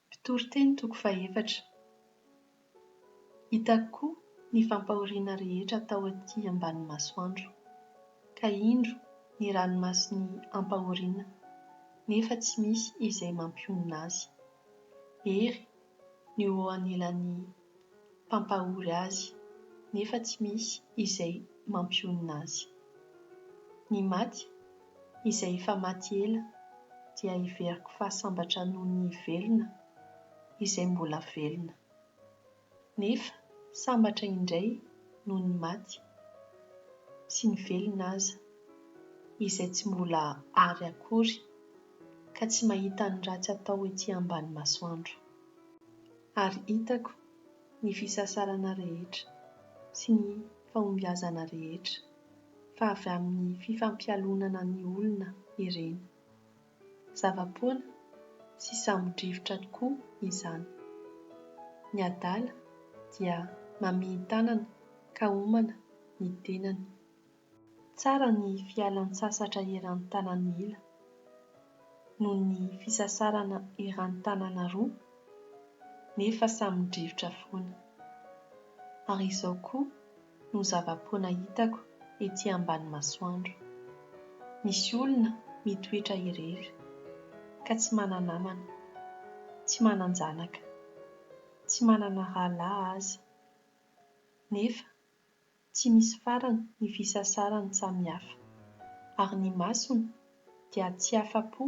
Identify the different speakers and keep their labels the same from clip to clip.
Speaker 1: Mpitoriteny toko fahefatra. Hitako koa ny fampahoriana rehetra tao aty ambany masoandro, ka indro ny ranomason'ny ampahoriana, nefa tsy misy izay mampionona azy. Hery ny ho eo anilan'ny. mpampahory azy nefa tsy misy izay mampionona azy. Ny maty, izay efa maty ela, dia heveriko fa sambatra noho ny velona, izay mbola velona. Nefa sambatra indray noho ny maty, sy ny velona aza, izay tsy mbola àry akory, ka tsy mahita ny ratsy atao ety ambany masoandro. Ary hitako ny fisasarana rehetra sy ny fahombiazana rehetra, fa avy amin'ny fifampialonana ny olona ireny. Zava-poana sy sambodrivotra tokoa izany. Ny adala dia mamihin-tanana ka homana ny tenany. Tsara ny fialan-tsasatra eran-tanan'ny ila, noho ny fisasarana eran-tanana roa, nefa samy drivotra foana. Ary izao koa no zava-poana hitako ety ambany masoandro. Misy olona mitoetra irery, ka tsy mana-namana, tsy manan-janaka, tsy manana rahalahy aza, nefa Tsy misy farany ny fisasarany samy hafa, ary ny masony dia tsy afa-po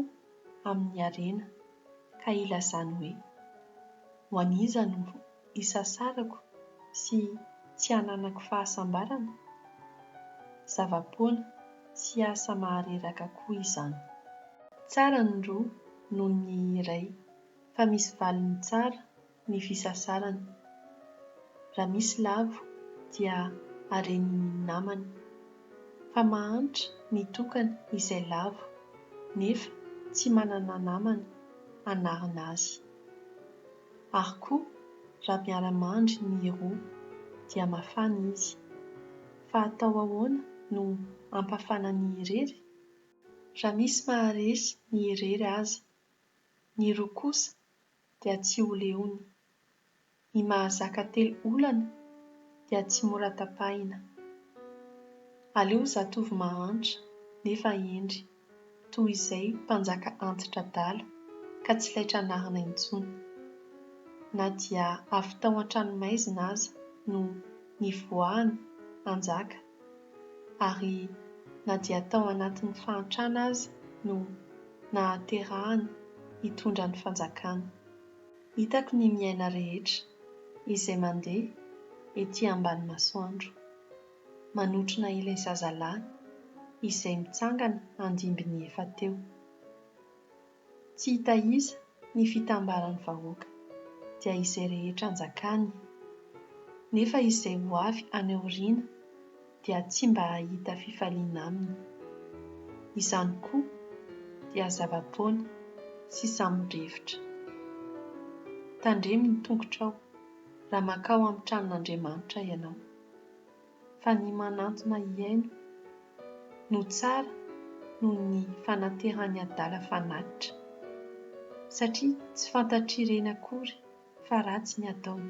Speaker 1: amin'ny harena, ka ilazany hoe, Ho an'iza no isasarako sy tsy hananako fahasambarana? Zava-poana sy asa mahareraka koa izany. Tsara ny roa noho ny iray, fa misy valiny tsara ny fisasarana. Raha misy lavo dia aren'ny namany. Fa mahantra ny tokana izay lavo nefa tsy manana namana hanarina azy. Ary koa raha miara-mandry ny roa dia mafana izy. Fa atao ahoana no hampafana ny irery? Raha misy maharesy ny irery aza, ny roa kosa dia tsy ho leony. Ny mahazaka telo olana dia tsy mora tapahina. Aleo zatovo mahantra nefa hendry toy izay mpanjaka anti-dradala ka tsy laitra anarina intsony. Na dia avy tao an-tranomaizina aza no nivoahany hanjaka ary na dia tao anatin'ny fahantrana aza no nahaterahany hitondra ny fanjakana. Hitako ny miaina rehetra izay mandeha ety ambany masoandro, manotrona ilay zazalahy izay mitsangana andimby ny efa teo. Tsy hitaiza ny fitambaran'ny vahoaka, dia izay rehetra anjakany, nefa izay ho avy any aoriana dia tsy mba hahita fifaliana aminy. Izany koa dia zava-poana sy samy mirefitra. Tandremo ny tongotrao raha mankao amin'ny tranon'Andriamanitra ianao. fa ny manantona hihaino no tsara noho ny fanatehan'ny adala fanatitra, satria tsy fantatr'ireny akory fa ratsy ny ataony.